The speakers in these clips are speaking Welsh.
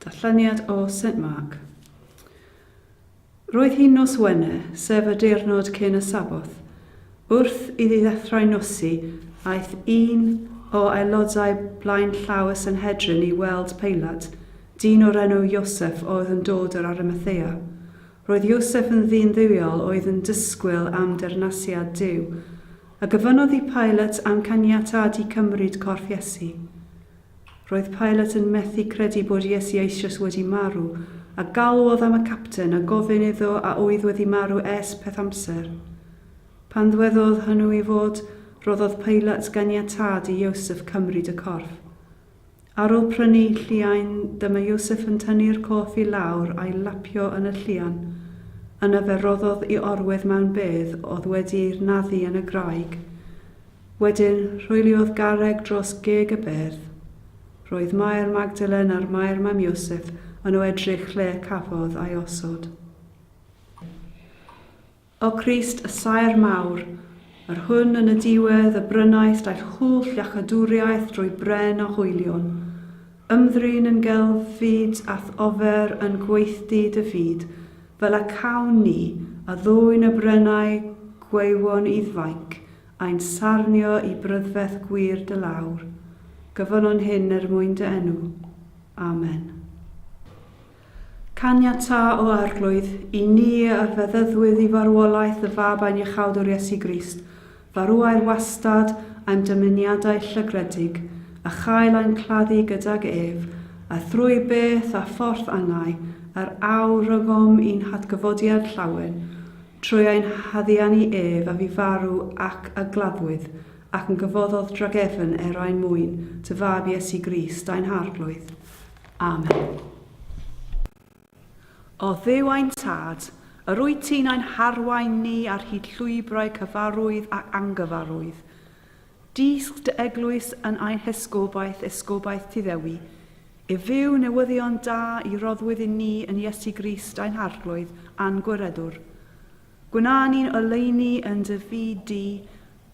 Datganiad o Saint Mark. Roedd hi'n nos Wener, sef y diwrnod cyn y Sabboth. Wrth iddi ddechrau nosi, aeth un o aelodau blaenllaw y Sanhedrin i weld Peilat, dyn o'r enw Iosef oedd yn dod yr Arimathea. Roedd Iosef yn ddyn dduwiol oedd yn disgwyl am deyrnasiad Duw, a gofynnodd i Pilate am caniatâd i cymryd corff Iesu. Roedd Pilate yn methu credu bod Iesu eisoes wedi marw, a galwodd am y capten a gofyn iddo a oedd wedi marw ers peth amser. Pan ddwedodd hynw i fod, rhoddodd Pilate ganiatâd i Iosef cymryd y corff. Ar ôl prynu lliain, dyma Iosef yn tynnu'r cof i lawr a'i lapio yn y llian. Yna fe roddodd i orwedd mewn bedd oedd wedi'i naddu yn y graig. Wedyn, rhwyliodd garreg dros geg y bedd. Roedd Mair Magdalen a'r Mair mam Iosef yn o edrych lle y cafodd a'i osod. O Grist y saer mawr, yr hwn yn y diwedd y brynaist aill hwll iachadwriaeth drwy bren o hoelion. Ymddrin yn gelf fyd a'th ofer yn gweithdy dy fyd, fel y cawn ni, a ddwyn y brenau gwaywon i'th fainc, ain sarnio i brydferth gwir dy lawr. Gyfonon hyn er mwyn dy enw. Amen. Caniatáu, o Arglwydd, i ni a feddyddwyd i farwolaeth y Fab ein Iachawdwr Iesu Grist, farwau'r wastad a'm dymuniadau llygredig, a chael ein claddu gydag ef, a thrwy beth a phorth angau yr aur rygom i'n hatgyfodiad llawen, trwy ein haddiannu ef a fu farw ac a gladdwyd ac yn gyfoddodd dragefn er ein mwyn, dy Fab Iesu Grist, ein Harglwydd. Amen. O Dduw ein Tad, yr wyt ti'n ein harwain ni ar hyd llwybrau cyfarwydd ac angyfarwydd. Dysg dy eglwys yn ein hesgobaeth, esgobaeth ti ddewi, i fyw newyddion da i roddwyd i ni yn Iesu Grist ein harglwydd a'n gwireddwr. Gwna ni'n oleuni yn dy fyd di,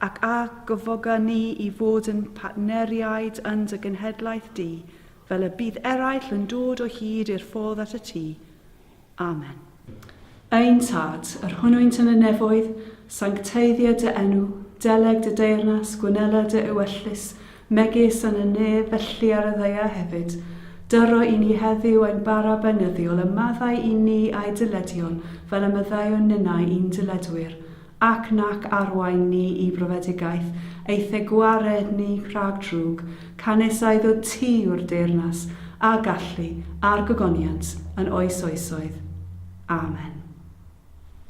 ac a gyfoga ni i fod yn partneriaid yn dy genhedlaeth di, Fel y bydd eraill yn dod o hyd i'r ffordd at y tŷ. Amen. Ein Tad, yr hwnnwynt yn y nefoedd, sancteiddio dy enw, deleg dy deyrnas, gwnela dy ewyllys, megis yn y nef, felly ar y ddaear hefyd. Dyro i ni heddiw ein bara beunyddiol, a maddau i ni a'i dyledion, fel y maddeuwn ninnau i'n dyledwyr. Ac nac arwain ni i brofedigaeth, eithe gwared ni rhag drwg, canys a iddo ti yw'r deyrnas, a gallu, a'r gogoniant, yn oes oesoedd. Amen.